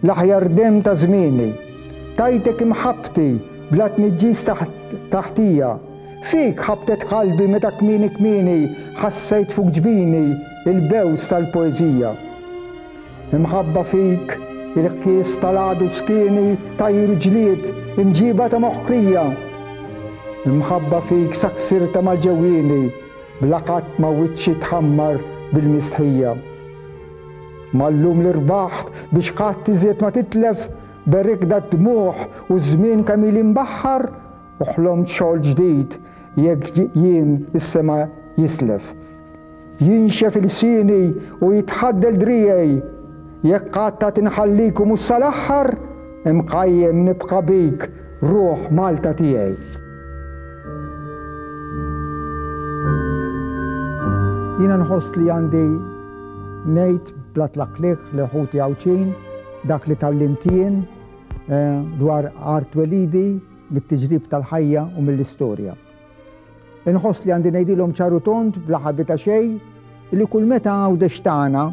L-aħjar demm ta' żmieni. Tajtek imħabbti bla tniġġis taħtija. Fik ħabtet qalbi meta kmieni kmieni ħassejt fuq ġbini l-bews tal-poeżija. Imħabba fik il-ħkies tal-għadu f'skieni tajr ġlied imġiba ta' moħħkrija. Imħabba fik sa ksirta mal-ġewwieni bla qatt ma wiċċi tħammar bil-mistħija. Ma llum li rbaħt biex qatt iżjed ma titlef, berikt dad-dmugħ u ż-żmien kemm ili nbaħħar u ħlomt xogħol ġdid jekk jiem is-sema jislef. Jinxef ilsieni u jitħaddel driegħi, jekk qatt għad inħallik u mhux sal-aħħar, imqajjem nibqa' bik, ruħ Malta tiegħi. Jiena nħoss li għandi Ngħid bla tlaqliq li ħuti Għawdxin dak li tgħallimt jien eh, dwar art welidi mit-tiġrib tal-ħajja u mill-istorja. Inħoss li għandi ngħidilhom ċaru tont bla ħabita xejn li kull meta għawdex tagħna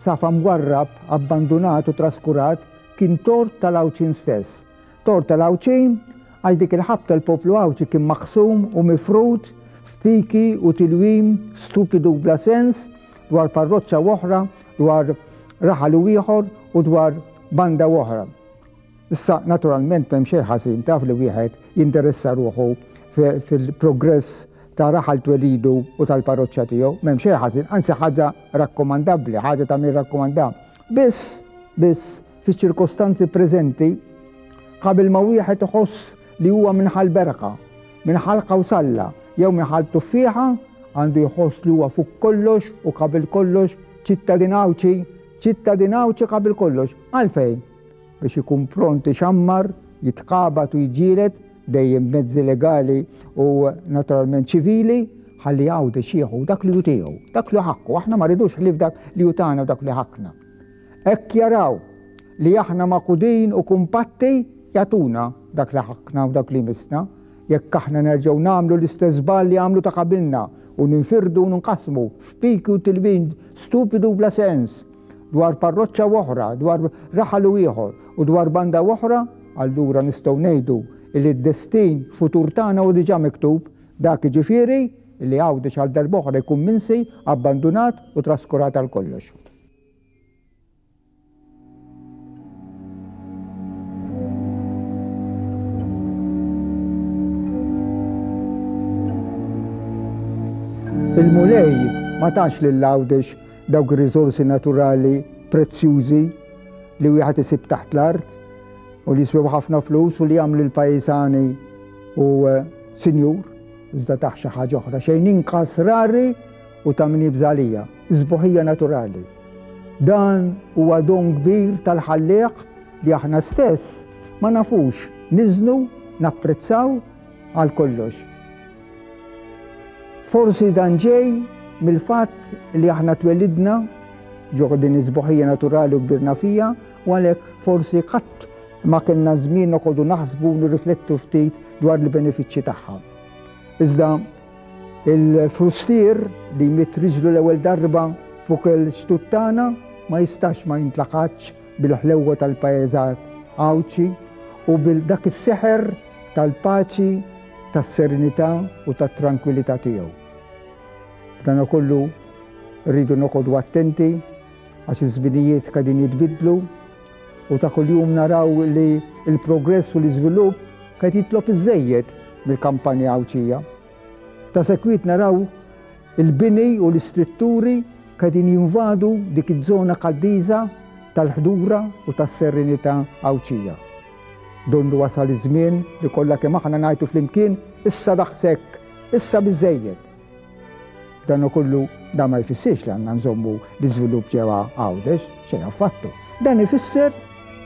safa mwarrab, abbandunat u traskurat kien tort tal-Għawdxin stess Tort tal-Għawdxin, Għal dik il-ħabta l-poplu Għawdxi kien maqsum u mifrud f'piki u tilwim stupidu u bla sens dwar parroċċa u oħra, dwar raħal u ieħor u dwar banda u oħra. Issa, naturalment, m'hemm xejn ħażin taf li wieħed jinteressa ruħu fil-progress ta' raħal twelidu u tal-parroċċa tiegħu, m'hemm xejn ħażin, anzi ħaġa rakkomandabbli, ħaġa ta' min rakkomanda. Biss, biss, Fiċ-ċirkostanzi preżenti, qabel ma wieħed iħoss li huwa minn ħal berqa, minn ħal kawsalla jew minn ħal tuffieħa, għandu jħoss li huwa fuq kollox u qabel kollox ċittadin Għawdxi, ċittadin Għawdxi qabel kollox. Għalfejn? Biex ikun pront ixammar, jitqabad u jġielet dejjem mezzi legali u naturalment ċivili ħalli għawdi xieħu dak li jutiegħu, dak li ħakku, aħna ma ridux ħlif dak li jutana u dak li ħakna. Hekk jaraw li aħna magħqudin u kumpatti, jagħtuna dak li ħakkna u dak li jmissna. Jekk aħna nerġgħu nagħmlu l-istess żball li għamlu ta' qabilna u ninfirdu u nqassmu f'piki u tilwim stupidu u bla sens dwar parroċċa u oħra, dwar raħal u ieħor u dwar banda u oħra, allura nistgħu ngħidu li d-destin futur tagħna hu diġà miktub, dak jiġifieri li Għawdex għal darb'oħra jkun minsi, abbandunat u traskurat għal kollox. Il-Mulej ma tax lil Għawdex dawk ir-riżorsi naturali prezzjużi li wieħed isib taħt l-art u li jiswew ħafna flus u li jagħmlu l-pajjiżani u eh, sinjur, iżda taħt xi ħaġa oħra xejn inqas rari u ta' min jibża' għalija, is-sbuħija naturali. Dan huwa don kbir tal-Ħallieq li aħna stess ma nafux niżnu, napprezzaw għal kollox. Forsi dan ġej mill-fatt li aħna twelidna ġo din iż-sbuħija naturali u kbirna fija u għalhekk forsi qatt ma kellna żmien noqogħdu naħsbu nirriflettu ftit dwar il-benefiċċji tagħha. Iżda Il-frustier li jmitt riġlu l-ewwel darba fuq il-xtut tagħna ma jistax ma jintlaqatx bil-ħlewwa tal-pajjeżat Għawdxi u bil dak is-seħer tal-paċi, tas-serenità u tat-trankwilità tiegħu. B'danakollu rridu noqogħdu attenti għax iż-żminijiet qegħdin jitbiddlu, U ta' kuljum naraw li l-progress u l-iżvilupp qed jitlob iżżejjed mill-kampanja Għawdxija. Ta' sekwit naraw il-bini u l-istrutturi qegħdin jinvadu dik iż-żona qaddiża tal-ħdura u tas-serenità Għawdxija. Donnu wasal iż-żmien li kollha kemm aħna ngħidu flimkien, Issa daqshekk! Issa biżżejjed! Dan kollu da ma jfissirx li għandna nżommu l-iżvilupp ġewwa Għawdex, xejn affattu. Dan ifisser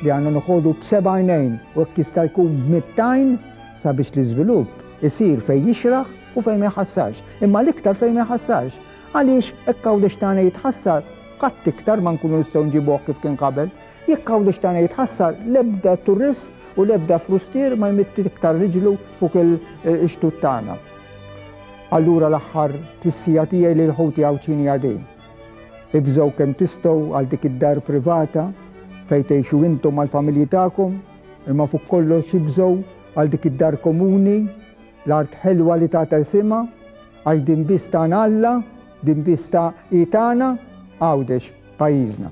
li għandna noħogħdu b'sebgħinejn u hekk jista' jkun b'mittajn sabiex l-iżvilupp isir fejn jixraħ u fejn ma jħassarx, imma l-iktar fejn ma jħassarx. Għaliex hekk Għawdex tagħna jitħassar, qatt iktar ma nkunu nistgħu nġibuh kif kien qabel. Jekk Għawdex tagħna jitħassar, l-ebda turist u l-ebda frustier ma jmitti iktar riġlu fuq il-xtut tagħna. Allura l-aħħar twissija tiegħi lil ħuti Għawdxini Għadin. Ibżgħu kemm tistgħu għal dik id-dar privata fejn tgħixu intom mal-familji tagħkom, imma fuq kollox ibżgħu għal dik id-dar komuni, l-art ħelwa li tagħta isimha, għax din biss tagħna Alla, din biss ta' hi tagħna, Għawdex, pajjiżna.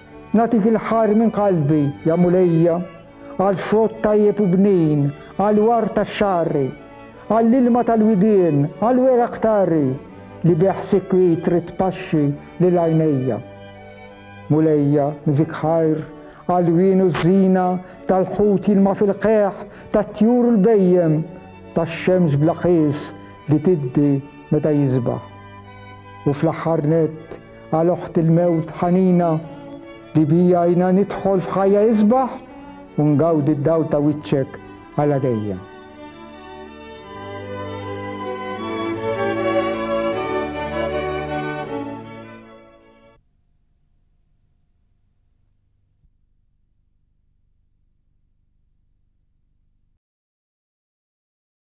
Nagħtik il-ħajr minn qalbi, ja Mulejja, għall-frott tajjeb u bnin, għall-ward tax-xagħri, għall-ilma tal-widien, għall-weraq tarri li bih sikwit trid tpaxxi lil għajnejja. Mulejja, nżik ħajr għall-wien u ż-żina tal-ħut jilma' fil-qegħ, tat-tjur u l-bhejjem, tax-xemx bla qies li tiddi meta jiżbaħ. U fl-aħħar nett, Għal oħt il-mewt ħanina li bija jina nidħol f'ħajja isbaħ u ngawdi d-dawl ta' wiċċek għala dejjem.